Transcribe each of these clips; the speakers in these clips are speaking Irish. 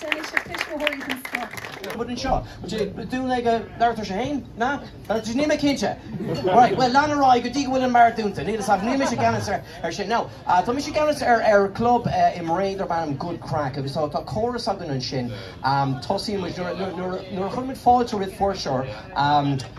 D'eisigh tuismitheoirí chun scoth. Rud anseo. Dún ag a labhartar sé fhéin, na? Níl mé cinnte. Right, bhuel lean ar aghaidh go dtí go bhfuil an mbeart dúnta. Níl a saghas, níl mise i gceannas ar sin. Now, tá mise i gceannas ar club i mBré darb ainm Good Crack agus tá córas againn ansin, tosaíonn muid nuair a chuireann muid fáilte roimh fuirseoir,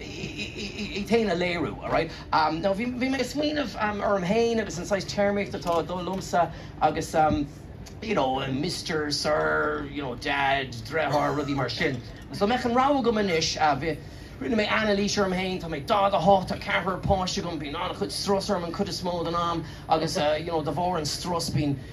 iad féin a léiriú. Nó bhí mé ag smaoineamh orm féin agus an saghas téarmaíochta atá ag dul liomsa agus you know Mister, Sir, you know Dad, Deartháir, rudaí mar sin. Agus dá mbeadh an rogha agam anois, rinne mé anailís orm féin, tá mé daichead a hocht, tá ceathrar páiste agam, bíonn an-chuid strus orm an chuid is mó den am agus you know de bharr an strus bíonn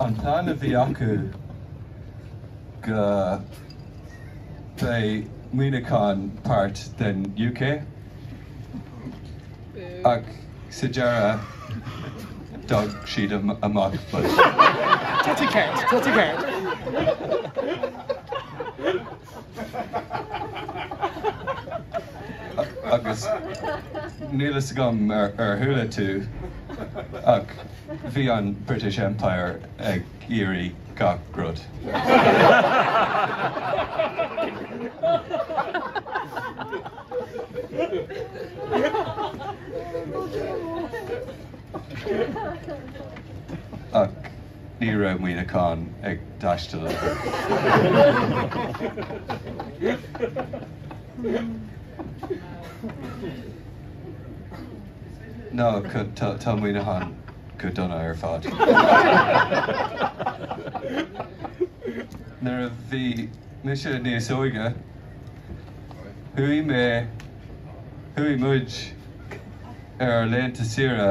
An plean a bhí acu go mbeidh Muineachán páirt den UK ach sa deireadh d'fhág siad amuigh fós. Agus níl a fhios agam ar chuala tú ach bhí an British Empire ag iarraidh gach rud. Ach. Ní raibh Muineachán ag teastáil ar bith. Tá Muineachán go dona ar fad. Nuair a bhí mise níos óige, chuaigh mé, chuaigh muid, ar ár laethanta saoire.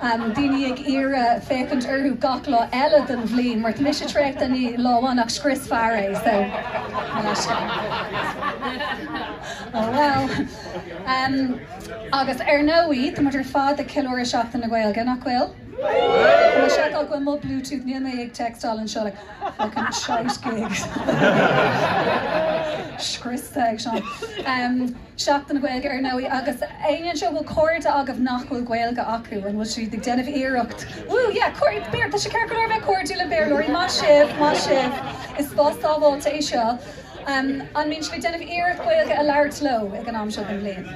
daoine ag iarraidh féachaint orthu gach lá eile den bhliain, mar tá mise traochta in aon lá amháin ach scriosfar é, so mo leisce. Oh well. Agus ar ndóigh, tá muid ar fad ag ceiliúradh Seachtain na Gaeilge, nach bhfuil? Tá sé go bhfuil mo Bluetooth níl mé ag textáil an seola fucking shite gigs. Scriosta ag seo. Seachtain na Gaeilge ar ndóigh agus éinne anseo, an bhfuil cairde agaibh nach bhfuil Gaeilge acu? An bhfuil siad ag déanamh iarracht, wú yeah, cairde, Béarla, tá sé ceart go leor bheith cairdiúil le Béarlóirí, maith sibh, maith sibh, is spás sábháilte é seo. An mbíonn sibh ag déanamh iarracht Gaeilge a labhairt leo ag an am seo den bhliain?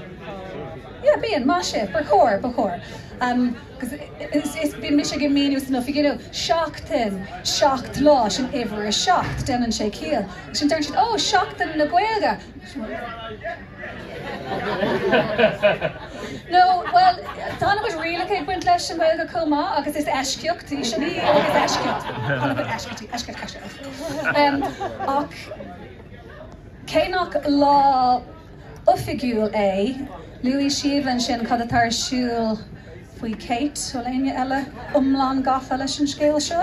Yeah, bíonn, maith sibh, ba chóir, ba chóir. Agus is, bíonn mise ag míniú san oifig, you know, seachtain, seacht lá, sin uimhir a seacht, déanann sé ciall. Ansin deireann siad, oh, Seachtain na Gaeilge! No, bhuel, tá an-chuid rialacha ag baint leis an nGaeilge chomh maith agus is eisceacht í sin í, is eisceacht, tá an-chuid eisceachtaí, eisceacht, eisceacht. Ach cé nach lá oifigiúil é, luaigh Síomha ansin cad atá ar siúl faoi Kate, bhfuil éinne eile iomlán gafa leis an scéal seo?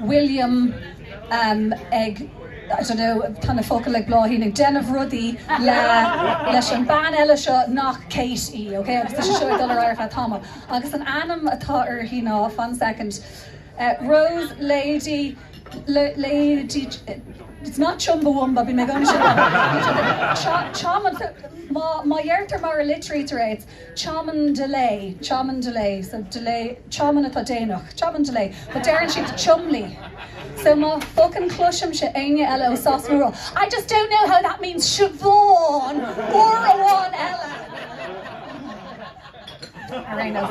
William, ag, I don't know, tá na focail ag Bláithín, ag déanamh rudaí le, leis an bean eile seo nach Kate í, ok, agus tá sé seo ag dul ar aghaidh ar feadh tamall. Agus an t-ainm atá uirthi ná, fan soicind, Rose Lady, Lady, it's not Chumbawamba, bhí mé ag aimsiú, Cham, Cham, má, má dheirtear mar a litrítear é, it's, Chairman delay, chairman delay, so delay, chairman atá déanach, chairman delay, but deireann siad chumley, so má fuckin chloisimse éinne eile ó Shasana ag rá I just don't know how that means Siobhán uair amháin eile! Ar aon nós.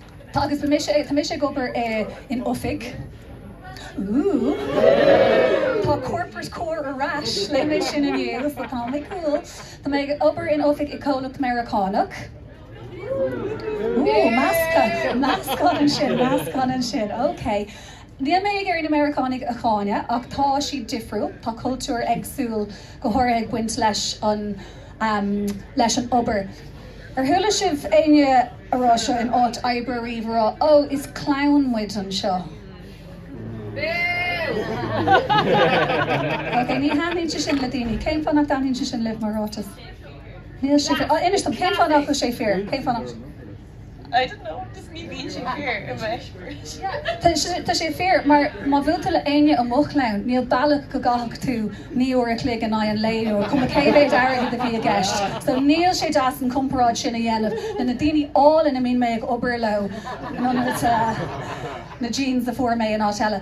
Tá agus tá mé sé tá mé sé ag obair in oifig. Ooh. Tá corporate core ar ais. Léigh mé sin inné agus ba tá mé cool. Tá mé ag obair in oifig i gcomhlacht Meiriceánach. Ooh meascadh meascán ansin meascán ansin ok. Níl mé ag iarraidh na Meiriceánaigh a cháineadh ach tá siad difriúil, tá cultúr éagsúil go háirithe ag baint leis an leis an obair. Ar chuala sibh éinne ag rá seo in áit oibre riamh roimhe, ó, is clann muid anseo. Beo! Ok, ní thaitníonn sé sin le daoine. Cén fáth nach dtaitníonn sé sin libh mar ráiteas? Níl sé fíor. Oh, inis dom, cén fáth nach bhfuil sé fíor? Cén fáth nach... I don't know, just me being sincere, a bheith. Tá sé fíor, mar má bhuailfeadh tú le éinne ó mo chlann, níl bealach go gcaithfeadh tú naoi uair a chloig in aghaidh an lae leo, cuma cé mhéid airgid a bhí i gceist. So níl sé deas an chomparáid sin a dhéanamh le na daoine áille a mbíonn mé ag obair leo, nó na jeans a fuair mé in áit eile.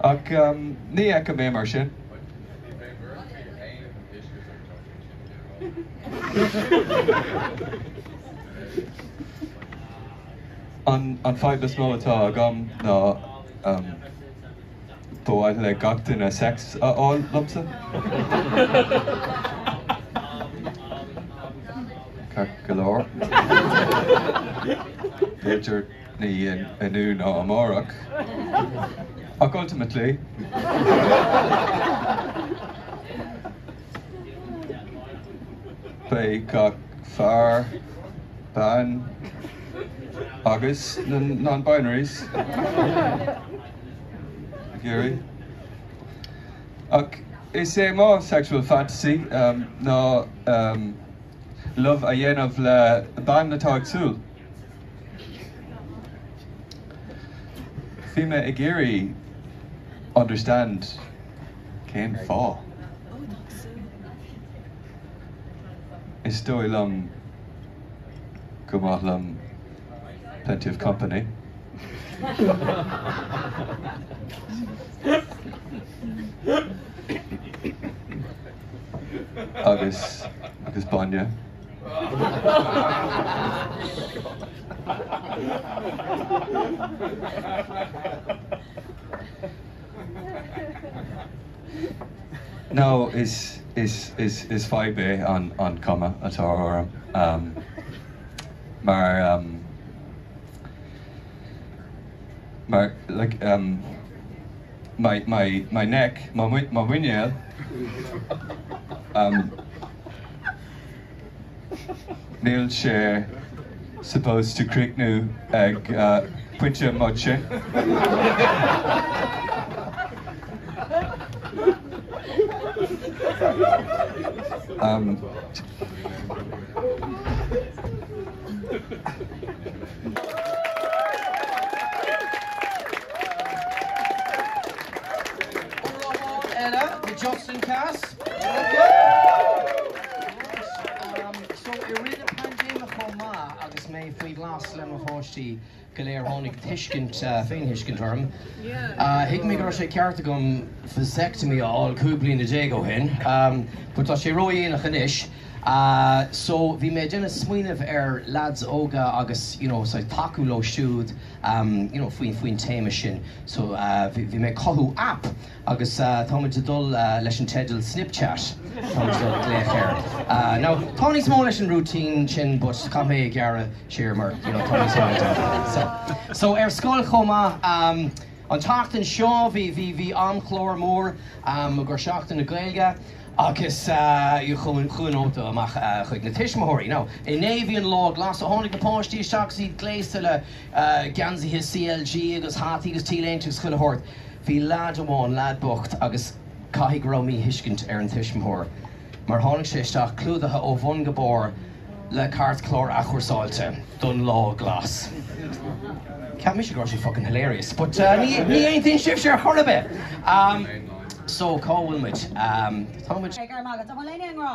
Ach ní fheicim é mar sin. An fadhb is mó atá agam ná ba mhaith le gach duine sex a fháil liomsa. Ní inniu ná amárach, ach ultimately. Beidh gach fear, bean agus na non-binaries ag iarraidh. Ach is é mo sexual fantasy ná love a dhéanamh le bean atá ag súil. Bhí mé ag iarraidh understand cén fáth. Is dóigh liom gur maith liom plenty of company. agus bainne. No, is, is, is, is fadhb é an, an cuma atá orm. Um, mar, um, mar, like, um, my, my, my neck, my, my muinéal, um, Níl sé supposed to críochnú ag pointe moite. Uair amháin eile, the Johnson Cast. I rith na paindéime chomh maith agus mé faoi ghlas le mo pháistí go léir tháinig tuiscint, féinthuiscint orm. Thuig mé go raibh sé ceart agam vasectomy a fháil 15 bliana ó shin but tá sé ródhéanach anois so bhí mé ag déanamh smaoineamh ar leaids óga agus you know saghas tacú leo siúd you know faoin téama sin so bhí mé ag cothú app Agus táimid ag dul leis an teideal Snipchat, tá muid ag dul ag glaoch air. Now, tá níos mó leis an routine sin but caithfidh mé é a ghearradh siar mar you know tá níos mó le déanamh. So, so ar scoil chomh maith um an tseachtain seo bhí, bhí, bhí amchlár mór um mar gur Seachtain na Gaeilge agus uh chuaigh, chuaigh nóta amach uh chuig na tuismitheoirí. Now inné bhí an Lá Glas so tháinig na páistí isteach agus iad gléasta le geansaithe CLG agus hataí agus T-léinte agus chuile shórt. Bhí leaid amháin, leaid bocht, agus caithfidh go raibh míthuiscint ar an tuismitheoir mar tháinig sé isteach clúdaithe ó bhun go barr le cairtchlár athchúrsáilte don lá glas. Cheap mise go raibh sé fucking hilarious but ní aontaíonn sibhse ar chor ar bith! So cá bhfuil muid? Tá muid. Beidh orm agat. An bhfuil éinne i ngrá?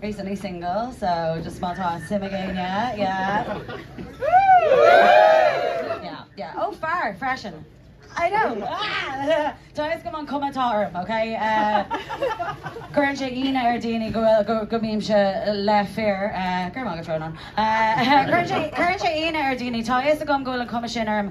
Recently single so just má tá suim ag éinne yeah Woo! yeah yeah oh fear freisin I know ah Tá a fhios agam an chuma atá orm ok eh cuireann sé ionadh ar dhaoine go bhfuil go go mbímse le fir eh go maith go tromán eh cuireann sé cuireann sé ionadh ar dhaoine tá a fhios agam go bhfuil an chuma sin orm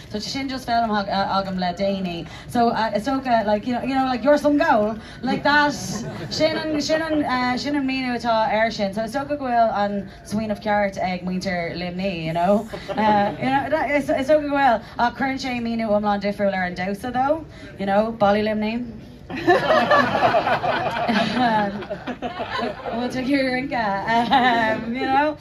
So sin just feilm agam le déanaí so is dócha like you know like you're some gowl like that sin an sin an sin an míniú atá air sin so is dócha go bhfuil an smaoineamh ceart ag muintir Luimnigh you know you know that is is dócha go bhfuil ach cuireann sé míniú iomlán difriúil ar an damhsa úd you know Ballaí Luimnigh bhfuil tú ag iarraidh rince you know.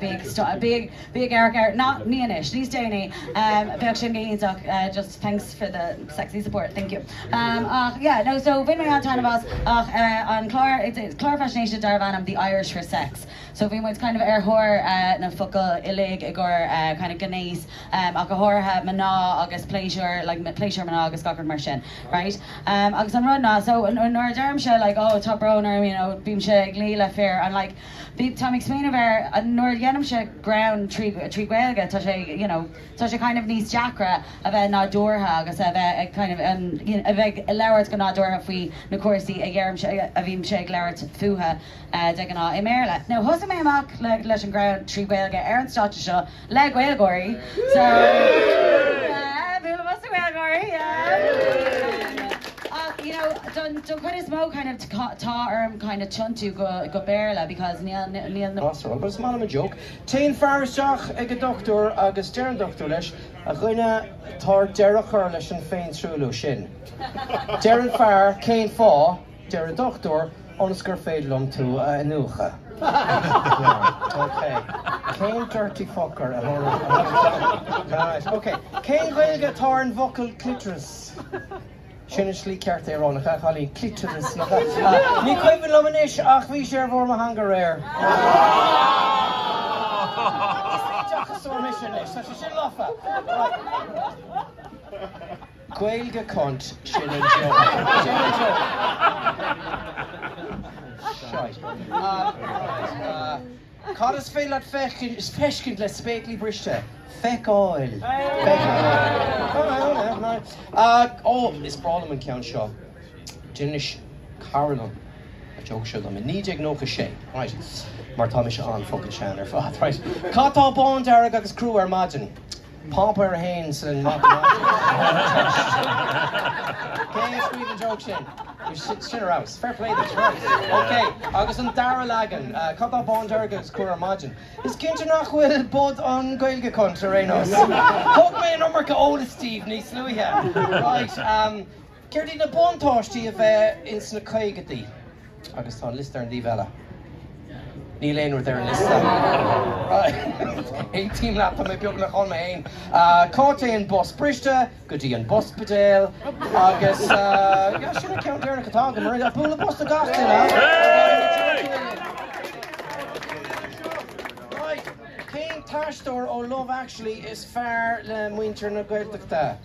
Bíodh stop, bíodh, bíodh ar, ar, ná, ní anois, níos déanaí, bheadh sé mífhoighdeach, just thanks for the sexy support, thank you. Ach, yeah, no, so bhain mé an-taitneamh as, ach an clár, it's a, clár faisnéise darbh ainm The Irish for Sex, so bhí muid kind of ar thóir na focal uilig i gcomhair kind of gnéas, ach go háirithe mná agus pléisiúr, like pléisiúr mná agus gach rud mar sin, right. Agus an rud ná, so nuair a deirimse like, oh, tá brón orm, you know, bímse ag luí le fir, I'm like, bhí, táim ag smaoineamh ar nuair a dhéanaimse greann trí, trí Ghaeilge, tá sé, you know, tá sé kind of níos deacra a bheith nádúrtha agus a bheith ag kind of, you know, a bheith ag labhairt go nádúrtha faoi na cúrsaí a dheirimse, a bhímse ag labhairt fútha de ghnáth i mBéarla. Now, thosaigh mé amach le, leis an ghreann trí Ghaeilge ar an stáitse seo, le GaelGÁIRÍ. Bualadh bos do GaelGÁIRÍ! Ach, you know, don chuid is mó kind of tá orm kind of tiontú go Béarla because níl, níl na. That's all, but it's more than a joke. Téann fear isteach ag an dochtúir agus deir an dochtúir leis, A dhuine, tá ort deireadh a chur leis an féintruailliú sin. Deir an fear, Cén fáth? Deir an dochtúir, ionas gur féidir liom tú a iniúchadh. Leon, OK. Cén dirty fucker a thabharfadh a thoil dom? Right, OK. Cén Ghaeilge atá ar an bhfocal clitoris? Sin an slí ceart é a rá, nach ea, a chailíní? Clitoris, nach ea? Ní cuimhin liom anois, ach bhí sé ar bharr mo theanga aréir. Is é deachasóir mise anois, tá sé sin lofa. Right. Gaeilge cunt sin an joke. Sin an joke. Shite. Cad is féidir leat feiscint le spéaclaí briste? Feiceáil. Ó, is breá liom an ceann seo. D'inis cara liom an joke seo dom i 1996, raight, mar tá mise an-fhuckin' sean ar fad, raight. Cad tá bándearg agus crua ar maidin? Páipéar a hAon sa Mhatamaitic. Cé a scríobh an joke sin? Sin a rabhas. Fair play duit. Right. OK. Agus an dara leagan. Cad tá bándearg agus crua ar maidin? Is cinnte nach bhfuil bod an Gaeilge chun ar aon nós. Thug mé an iomarca eolais daoibh níos luaithe. Right. Céard iad na buntáistí a bheith ins na caogaidí? Agus tá an liosta ar an dtaobh eile. Níl aon rud ar an liosta. Aontaím leat, tá mé beagnach ann mé féin. Cá dtéann bus briste? Go dtí an bhuspidéal agus sin an ceann deireanach atá agam, mar bualadh bos do gach duine. Cén t-aisteoir ó Love Actually is fearr le muintir na Gaeltachta?